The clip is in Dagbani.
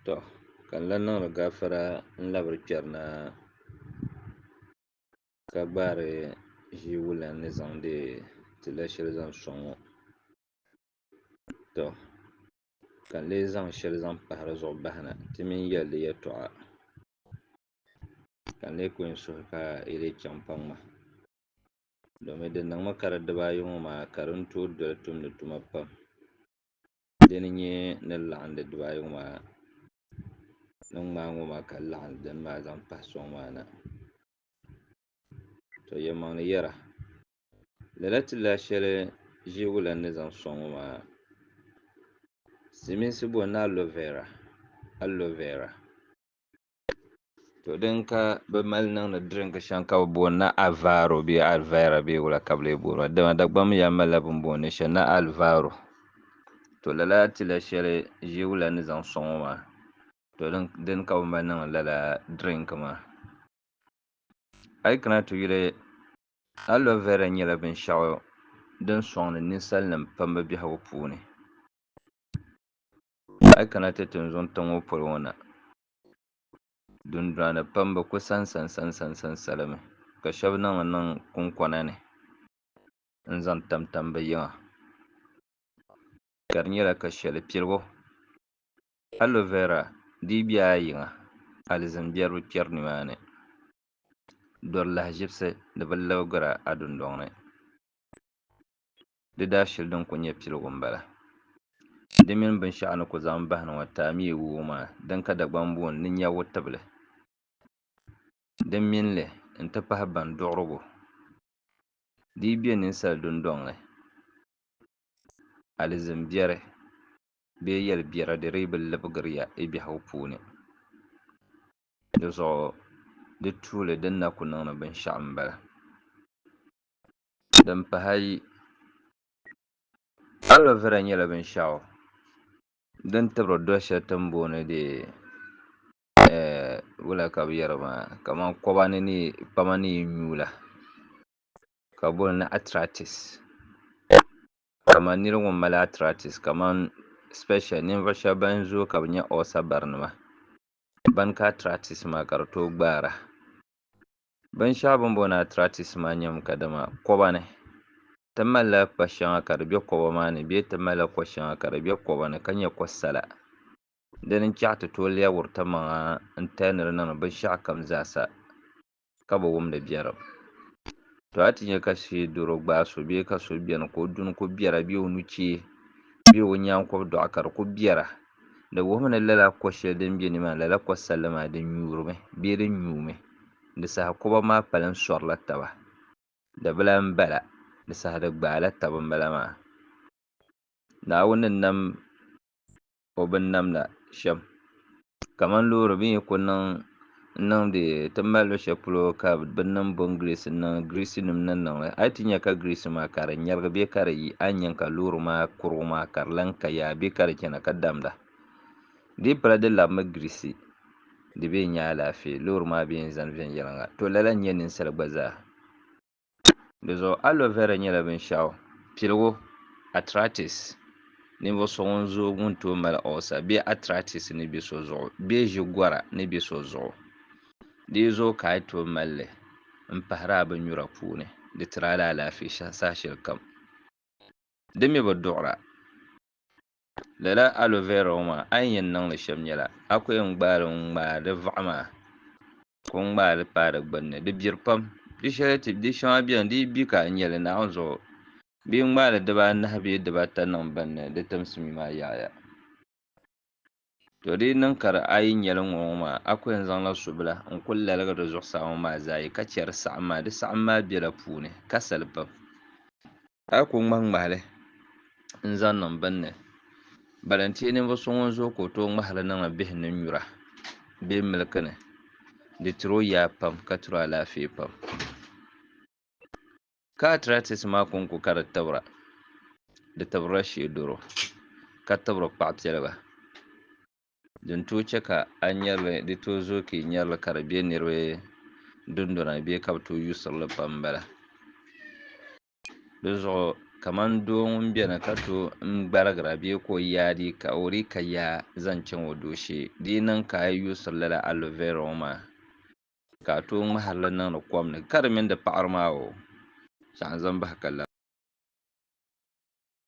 Tɔ! Ka n lan niŋdi gafara n-labiri kpɛri na ka gbaari ʒii wulan ni zaŋdi ti la shɛli zaŋ sɔŋ ŋɔ. Tɔ! Ka n lee zaŋ shɛli zaŋ pahi di zuɣu bahi na ti mini yɛli di yɛtɔɣa ka n lee ku n suhu ka yi lee chaŋ pa ŋ ma domin di niŋmi ka di dibaayi ŋɔ maa ka di ni tooi doli tumdi tuma pam. Dini n nyɛ ni laɣindi diba ayi ŋɔ maa ni ŋmaai ŋɔ maa ka laɣim dini maa zaŋ pahi sɔŋ maa na to yɛlimaŋli yɛra lala ti la shɛli ʒiɛgu lana ni zaŋ sɔŋ ŋɔ maa silimiinsi boli ni alovera alovera. To din ka bɛ mali niŋdi drink shɛŋa ka bɛ booni ni Alvaro bee Alvira bee wula ka bɛ lee booni ba dama Dagbamba yaa malila bini booni li shɛli ni Alvaro to lala tila shɛli ʒiewula ni zaŋ sɔŋ o maa to dini ka bɛ mali niŋdi lala drink maa a yi kana ti yuli Alvira nyɛla binshɛɣu din sɔŋdi ninsalinim pam bɛ biɛhigu puuni. A yi kana ti tinzuŋ tiŋ ŋɔ polo ŋɔ na, dundɔnani pam bi ku sansansansansa li mi, ka shɛba niŋ li niŋ kunkɔna ni n-zaŋ tamtam bɛ yiŋa, ka di nyɛla ka shɛli piligu aloe vera di yi be a yiŋa alizin biɛri bi kpɛri nimaani, dɔri lahiʒibisi di bi libigira a dundɔŋ ni. Di daa shili din ku nyɛ piligu m-bala. Di mini binshɛɣu ni ku zaŋm bahi ni ŋɔ taamiya wuhibu maa din ka Dagbaŋ booni ni nya wutibili din mini li n-ti pahi ban duɣirigu dii be ninsal dundɔŋ ni alizin biɛri bee yɛl biɛra di dii bi libigiri ya i biɛhigu puuni. Di zuɣu di tuuli din na ku niŋ ni binshɛɣu m-bala. Din pahi ayi, Aloe vera nyɛla binshɛɣu din tibiri doli shɛli ti ni booni kamani koba ni ni yi nyu la ka bi booni atratis kamani nira ŋun mali atratis especially ninvuɣu shɛba ban zooi ka bi nyɛ ulcer barinima ban ka atratis maa ka di tooi gbaara. Binshɛɣu bini booni arthritis maa nyɛmi kadama koba ni ti malila kpa shɛŋa ka di bɛ koba maa ni bee ti malila ko shɛŋa ka di bɛ koba ni ka nyɛ ko sala dini n chaɣi ti tooi lɛbiri ti maŋa n tali ni di niŋdi binshɛɣu kam zaa sa ka bi wumdi biɛrim to a ti nyɛ ka shee doro gbaai so bee ka so bɛni ka o duni ku biɛra bee o nuchee bee o nyaankɔbi dɔɣu ka di ku biɛra Di wuhimi ni lala ko shɛli din be ni maa, lala ko salli maa, di nyuurimi bee di nyuumi. Di saha koba maa kpalim sɔrila taba. Dabila m-bala, di saha di gbaala taba m-bala maa. Naawuni ni nam O binnamda shɛm, kaman loori bɛ ni yi ku niŋ n niŋdi ti mali lu shɛli polo ka bɛ niŋ bɔn grease n niŋ grease nim ni niŋ li a yi ti nya ka grease maa ka di nyɛrigi bee ka di yi a ni nya ka loori maa kurigu maa ka di lan ka yaa bee ka di chana ka damda di yi pala di labimi grease di bee nya alaafee loori maa bee n zani viɛnyɛliŋga to lala n nyɛ ninsali gba zaa. Di zuɣu aloe vera nyɛla binshɛɣu piligu, arthritis, ninvuɣu so ŋun zooi ŋun tooi mali ulcer bee arthritis ni bɛ so zuɣu bee ʒi gɔra ni bɛ so zuɣu. Di yi zooi ka a yi tooi mali li n pahiri a binnyura puuni, di tiri a la alaafee saha shɛli kam. Di mi bi duɣira. Lala aloe vera ŋɔ maa a ni yɛn niŋ li shɛm nyɛla a ku yɛn gbaai li n-ŋmaai di vaɣa maa ka o ŋmaai li paai di gbunni di biri pam di shɛli ti di shɛŋa beni di yi bi ka a nya li naɣiŋ zuɣu bee ŋmaai li dibaa anahi bee dibaa ata niŋ bini ni di timsi mi maa yaɣiya to di yi niŋ ka di a yi nya li ŋɔ ŋɔ maa a ku yɛn zaŋ la subila n-kuli laligi di zuɣusaa ŋɔ maa zaa yi ka che di saɣim maa di saɣim maa bela puuni ka sali pam. A yi kul ŋmahi ŋmahi li n-zaŋ niŋ bini ni, bala nti yi ninvuɣ so ŋun zooi ka o tooi ŋmahi li niŋ a bihi ni nyura bee miliki ni, di tir o yaa pam ka tir o alaafee pam. Ka arthritis maa kɔŋ ku ka di tibira, di tibirila sheedoro, ka tibiri kpaɣ piɛliga. Din tooi chɛ ka a nyari li di tooi zooi ka yi nyari li ka di be niriba dundɔna ni bee ka bɛ tooi yuusiri li pam m-bala. Dinzuɣu kaman doo ŋun beni ka to n-gbarigira bee ka o yaa di ka o di ka yaa zaŋ chaŋ o dooshee, di yi niŋ ka a yi yuusiri lala aloe vera ŋɔ maa ka a tooi ŋmahiri li niŋdi kom ni ka di mini di paɣiri maa o, shɛɣu n-zaŋ bahi ka lari.